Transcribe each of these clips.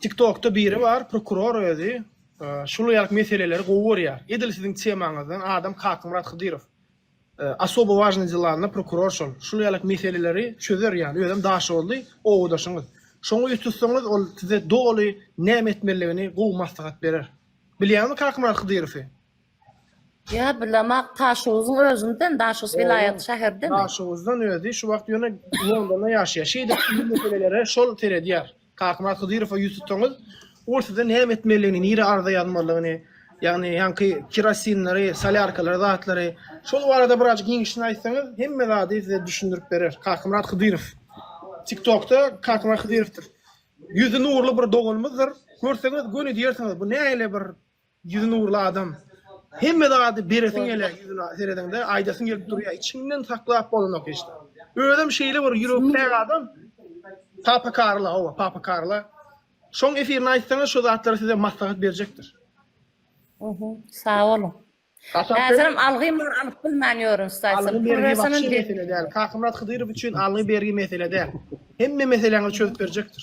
Tiktokda biri bar prokuror özi şul ýaly meseleleri gowy görýär edil siziň temaňyzdan adam Kakmyrat Hydyrow Osobo wažnyý delanda prokuror şol şul ýaly meseleleri çözer ýaly özem daşoguzly owadaşyňyz şoňa ýüz tutsaňyz ol size doly näme etmeliligini gowy maslahat berer bilýäňmi Kakmyrat Hydyrowy. Ýa bilemak Taşuguzyň özünden, Daşoguz welaýaty şäherdemi? Daşoguzdan özi şu wagt ýöne Londonda ýaşaýar. Şeýdip bu meselelere şol seredýär. Kakmyrat Hydyrowa ýüz tutsaňyz, ol size näme etmelidigini, nirä arza ýazmalygyny, ýagny ýaňky kirosinleri, solýarkalary, zatlary, şol barada birazjyk giňişini aýtsaňyz, hemme zady size düşündirip berer. Kakmyrat Hydyrow. Tiktokda Kakmyrat Hydyrowdyr. Ýüzi nurly bir doganymyzdyr. Görseňiz göni diýersiňiz, bu nähili bir Ýüzi nurly adam. Hemme zady beresiň gelýär ýüzüne seredeňde aýdasyň gelip durýar içiňden saklap bolanok hiç zat. Özem şeýle bir ýürekkäk adam Papa Karla hawa Papa Karla şoň efirini aýtsaňyz şo zatlary size maslahat berjekdir. Uhu sag boluň. Häzirim algym bar alyp bilmän ýörün staýsam. Pul bersem hem bermezler. Kakamyrat Hydyrow üçin algy bergi mesele däl. Hemme meseläňizi çözüp berjekdir.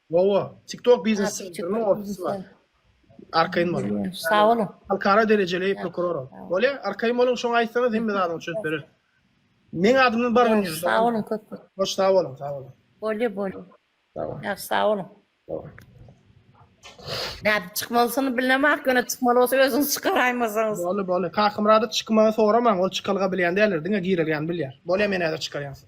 Wowo, TikTok biznes sentriniň ofisi bar. Arkaýyn boluň. Sag boluň. Halkara derejeli prokuror. Bolýa, arkaýyn boluň, şoňa aýtsaňyz hemme zadyňy çözüp bereris. Meň adymdan bar bolýa. Sag boluň köp köp. Hoş sag boluň, sag boluň. Bolýa, bolýa. Sag boluň. Ýagşy sag boluň. Nädip çykmalysyny bilnemak, ýöne çykmaly bolsa özüňiz çykaraýmasaňyz. Boldy, boldy. Kakamyrady çykmagy soramaň, ol çykalga bilýän däldir, diňe girelgäni bilýär. Bolýa, men häzir çykarýan sizi.